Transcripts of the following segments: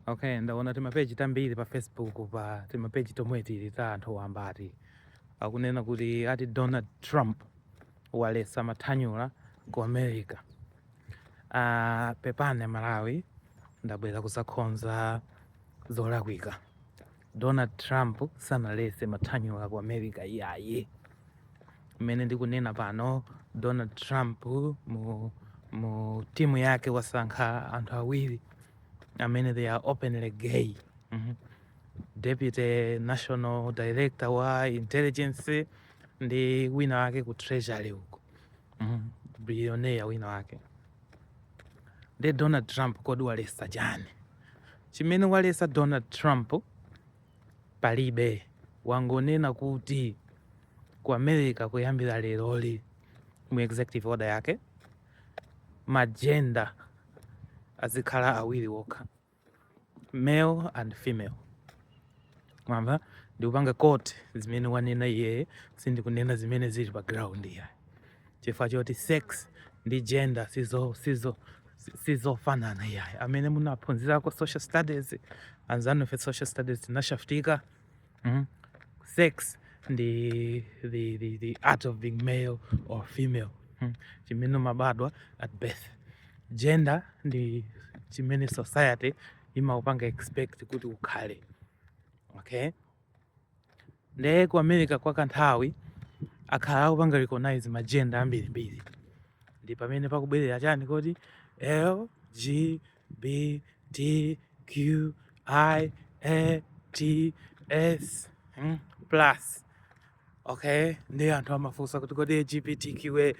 okay ndaona timapeji tambiri pa facebook pa timapeji tomwe tili ta anthu wamba ati akunena kuti ati donald trump walesa mathanyula ku america uh, pepani a malawi ndabwera kuzakhonza zolakwika Donald Trump sanalese mathanyula ku America iyayi. Mmene ndikunena pano Donald Trump mu, mu timu yake wasankha anthu awiri amene they are openly gay. Mm -hmm. Deputy National Director wa Intelligence ndi wina wake ku Treasury uko. Mm -hmm. Billionaire wina wake. Nde Donald Trump kodi walesa chani? Chimene walesa Donald Trump palibe, wangonena kuti ku America kuyambira leroli mu executive order yake magenda azikhala awiri wokha male and female mwamva ndikupanga quote zimene wanena iyeyo sindikunena zimene zili pa ground ya chifukwa choti sex ndi gender sizo sizo sizofanana iyayi amene munaphunzirako social studies anzanufe social studies tinashaftika mm? sex ndi the, the, the act of being male or female mm? chimene mabadwa at birth gender ndi chimene society imakupanga expect kuti ukhale okay Ndiye ku America kwa kanthawi akhala akupanga recognize magenda ambirimbiri, ndi pamene pakubwerera chani kuti LGBTQIATS mm, plus okay. Ndiye anthu amafunsa kuti kodi LGBTQA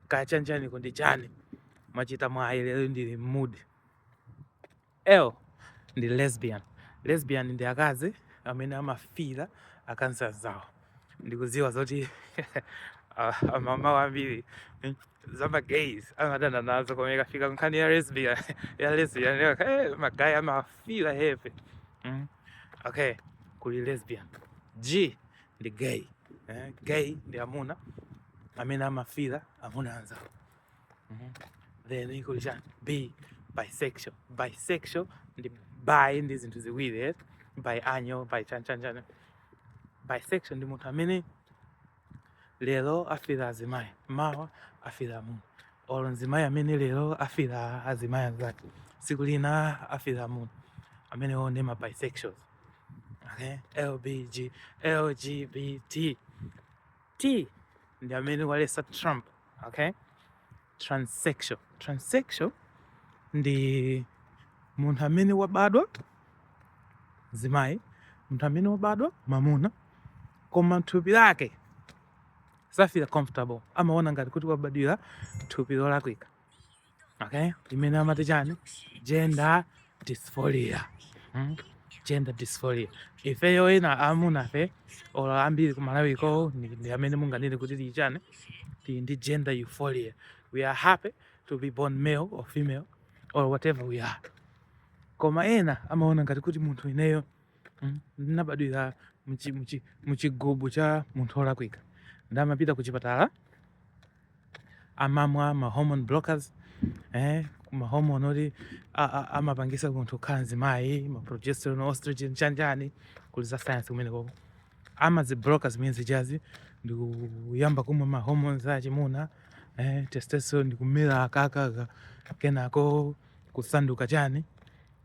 kachanichani ko ndi chani? Mwachita mwayi lero ndili m'mood L ndi lesbian. Lesbian ndi akazi amene amafira akazi anzawo. Ndikudziwa zoti ah, amamuna ambiri mm, za magays amadana nazo koma ikafika nkhani ya lesbian ya lesbian yo, eh, magay amafira heavy mm. Okay, kuli lesbian. G ndi gay. Eh, gay ndi amuna amene amafira amuna anzawo. mm -hmm. then kuli chani b bisexual bisexual ndi bi ndi zinthu ziwiri eh? biannual bi chanichani bisexual ndi munthu amene lero afira azimayi mawa afira amuna olo mzimayi amene lero afira azimayi anzake tsiku lina afira amuna amenewo ndi ma bisexuals okay? lbg lgbt T ndi amene walesa Trump, okay? Transsexual. Transsexual ndi munthu amene wabadwa mzimayi, munthu amene wabadwa mamuna koma mthupi lake samafila comfortable, amaona ngati kuti wabadwira thupi lolakwika. okay imene amati chani gender dysphoria hmm? gender dysphoria ifeyo ena amunafe olo ambiri kumalawiko ndi amene munganene kuti tili chani tili ndi gender euphoria we are happy to be born male or female or whatever we are koma ena amaona ngati kuti munthu ineyo mm, ndinabadwira muchigubu cha munthu olakwika nde amapita ku chipatala amamwa ma hormone blockers eh, ma hormone oti amapangisa munthu kukhala mzimayi ma progesterone oestrogen chanichani kuli za science kumene koko amazibloka zimene zijazi ndikuyamba kumwa ma hormones achimuna eh, testosterone ndikumera kaka kenako kusanduka chani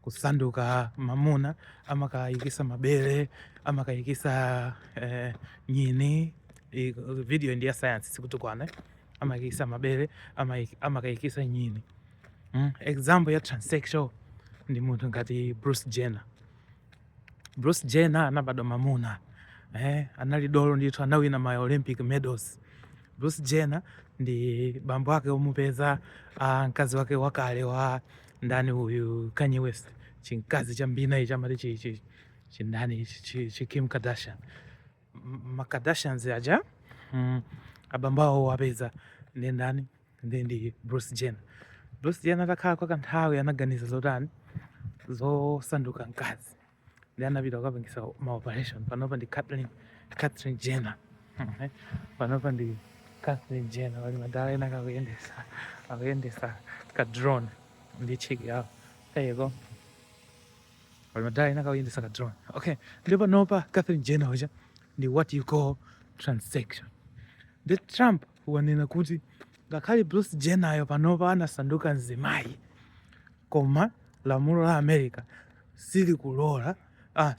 kusanduka mamuna amakayikisa mabele amakayikisa eh, nyini I, video ndi ya science sikutukwana amakayikisa mabele amakayikisa nyini mm? example ya transsexual ndi munthu ngati Bruce Jenner Bruce Jenner anabadwa mamuna eh, anali dolo ndithu, anawina ma Olympic medals. Bruce Jenner ndi bambo wake omupeza ah, mkazi wake wakale wa ndani uyu Kanye West, chimkazi cha mbina ichi amati chi- chi- chindani ichi, chi- chi Kim Kardashian M- ma Kardashians aja mm, abambo awo owapeza ndi ndani ndi ndi Bruce Jenner. Bruce Jenner atakhala kwa kanthawi anaganiza zotani zosanduka mkazi ndi anapita kukapangisa ma operation panopa ndi Caitlyn Caitlyn Jenner Mhm. panopa ndi Caitlyn Jenner pali madala ena kakuyendesa akuyendesa ka drone ndi chiki yawo there you go pali madala ena akuyendesa ka drone okay nde panopa Caitlyn Jenner uja ndi what you call transsexual nde Trump wanena kuti ngakhale Bruce Jenner yo panopa anasanduka mzimayi koma lamulo la America silikulora ah,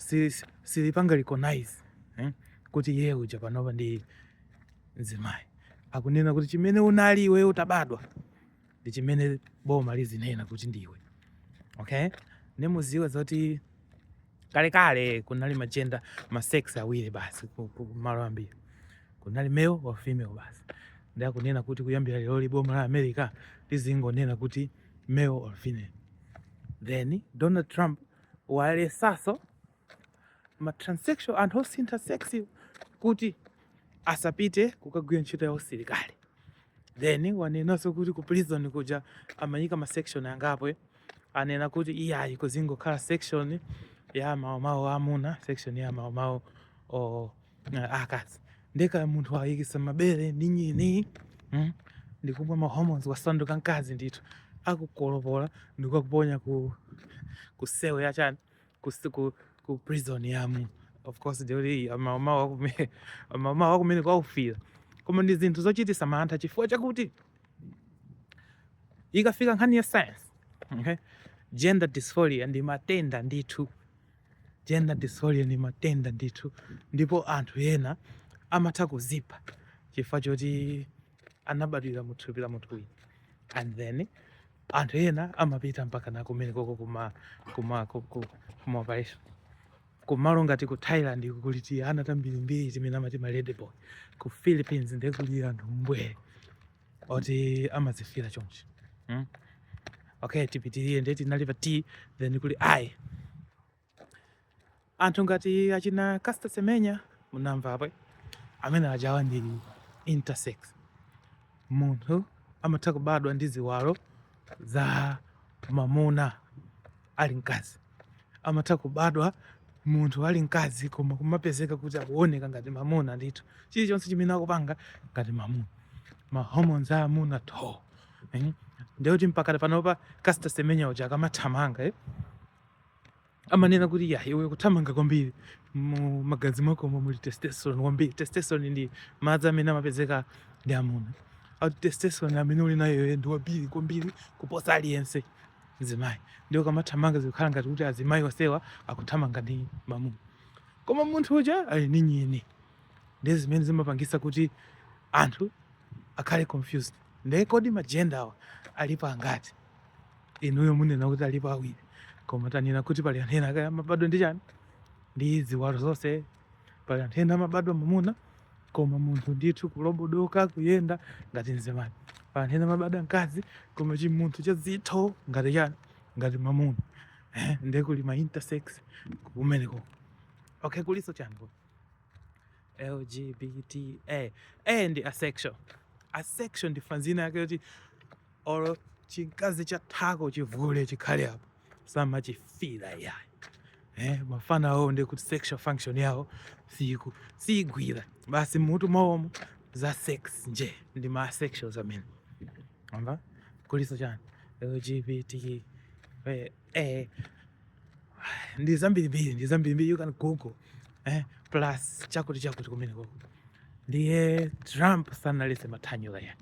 silipanga recognize eh, kuti iye uja panopa ndi mzimayi. Akunena kuti chimene unali iwe utabadwa ndi chimene boma lizinena kuti ndiwe okay nde muziwe zoti kalekale kunali magenda masex awiri basi kumalo ambiri kunali male or female basi nde akunena kuti kuyambira lero li boma la america lizingonena kuti male or female then donald trump walesaso ma transsexual anthu osintha sex kuti asapite kukagwira ntchito ya usilikali then wanenanso kuti ku prison kuja amaika ma section angapo eh. anena kuti iyayi kuzingokhala section ya mawomawo amuna section ya mawomawo eh, akazi nde ka munthu waikitsa mabere ndi nyini mm? ndikumwa ma hormones wasanduka mkazi ndithu akukolopola ndikukakuponya ku cell ya chani kus- ku, ku prison ya amuna of course ndi oti mawomawo akume- mawomawo kumene kwaufira koma ndi zinthu zochitisa mantha chifukwa chakuti ikafika nkhani ya science okay? gender dysphoria ndi matenda ndithu gender dysphoria ndi matenda ndithu ndipo anthu ena amatha kuzipha chifukwa choti anabadwira mu thupi la munthu wina and then anthu ena amapita mpaka na kumene koko kuma kuma kuma operation kumalo ngati ku Thailand kuli tiana tambirimbiri timene amati ma lady boy ku Philippines ndiye kuli anthu mbwee oti amazifira chonchi hmm? okay tipitirire ndiye tinali pa t then kuli i anthu ngati achina Caster Semenya munamvapo amene ajawa ndi intersex munthu amatha kubadwa ndi ziwalo za mamuna ali mkazi amatha kubadwa munthu ali mkazi koma kumapezeka kuti akuoneka ngati mamuna ndithu chilichonse chimene akupanga ngati mamuna ma hormones a amuna tho eh? ndekuti mpakana panopa Caster Semenya uja akamathamanga eh? amanena kuti iyayi iwe ukuthamanga kwambiri mu magazi mwakomo muli testosterone kwambiri. Testosterone ndi madzi amene amapezeka ndi amuna. Ati testosterone amene uli nayo iwe ndi wambiri kwambiri kuposa aliyense mzimayi. Ndiye ukamathamanga zukhala ngati kuti azimayi onsewa akuthamanga ndi mamuna. Koma munthu uja ali ndi nyini. Ndiye zimene zimapangitsa kuti anthu akhale confused. Ndiye kodi ma gender awa alipo angati? inuyo munena kuti alipo awiri koma tanena kuti pali anthu ena kaya amabadwa ndi chani ndi ziwalo zonse pali anthu ena amabadwa mamuna koma munthu ndithu kulobodoka kuyenda ngati mzimayi pali anthu ena amabadwa mkazi koma chimunthu cha zitho ngati chani ngati mamuna eh, ndiye kuli ma intersex kumeneko okay kulinso chani kuno? lgbta a ndi asexual asexual ndi fanz ina yake yoti olo chimkazi cha thako chivule chikhale apo samachifira yayi eh, mafana awo ndi kuti sexual function yawo siku sigwira basi m'mutu mwawomo za sex nje ndi ma asexual zamene amva kulinso chani lgbt eh, eh, ndi zambirimbiri ndi zambirimbiri you can google eh, plus chakuti chakuti kumene koko ndiye trump sanalese mathanyula yayi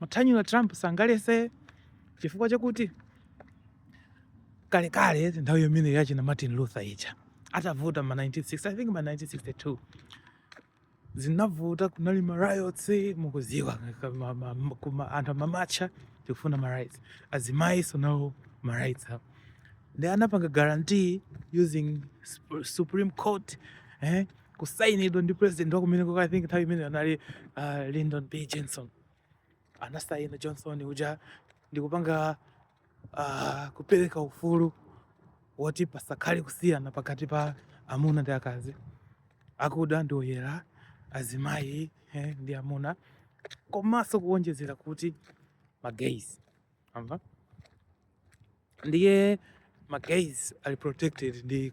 mathanyula trump sangalese chifukwa chakuti kalekale nthawi yimene yachina martin luther ija atavuta ma 1960 i think ma 1962 zinavuta kunali ma riots mukuziwa kuti anthu amamatcha tikufuna ma rights azimayiso nawo ma rights apo nde anapanga guarantee using supreme court eh kusainidwa ndi president wakumeneko i think nthawi imeneyo anali uh, Lyndon B Johnson anasaina Johnson uja ndikupanga uh, kupereka ufulu woti pasakhale kusiyana pakati pa amuna ndi akazi, akuda ndi oyera, azimayi eh, ndi amuna, komanso kuwonjezera kuti magays awa ndiye ma gays ali protected ndi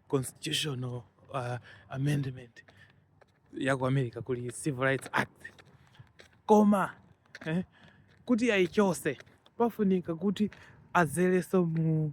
constitutional uh, amendment ya ku america kuli civil rights act koma eh, kuti ayichose pafunika kuti azeleso mu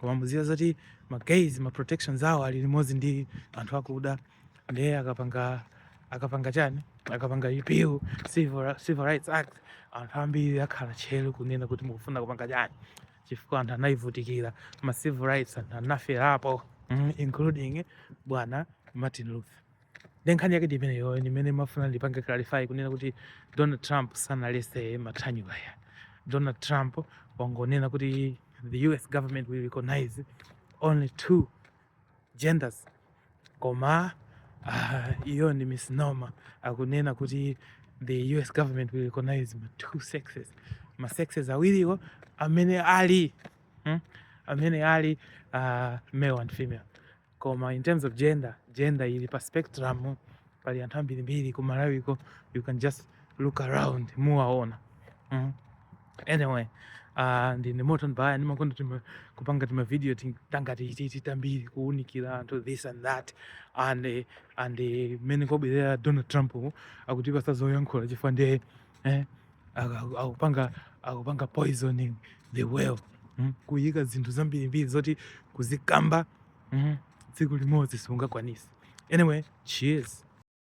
koma mudziwa zoti ma gays ma protections awo ali limodzi ndi anthu akuda ndiye akapanga akapanga chani akapanga repeal civil, civil rights act anthu ambiri akhala tcheru kunena kuti mukufuna kupanga chani chifukwa anthu anayivutikira ma civil rights anthu anaferapo mm, including bwana martin luther nde nkhani yake ndi imeneyo imene nimafuna ndipange clarify kunena kuti donald trump sanalese mathanyula yayi donald trump wangonena kuti the us government will recognize only two genders koma uh, iyo ndi misnomer akunena kuti the us government will recognize ma two sexes ma sexes awiriwo amene ali hmm? amene ali uh, male and female koma in terms of gender gender ili pa spectrum pali anthu ambirimbiri ku malawiko you can just look around muwaona mm. anyway uh, ndine Morton Baya ndimakonda tima, kupanga timavidiyo tangati titi tambiri kuunikira anthu this and that and and mmene wabwerera donald trump akutipasa zoyankhula chifukwa ndiye eh? akupanga akupanga poisoning the well mm? kuyika zinthu zambirimbiri zoti kuzikamba mm? tsiku limodzi sungakwanise anyway cheers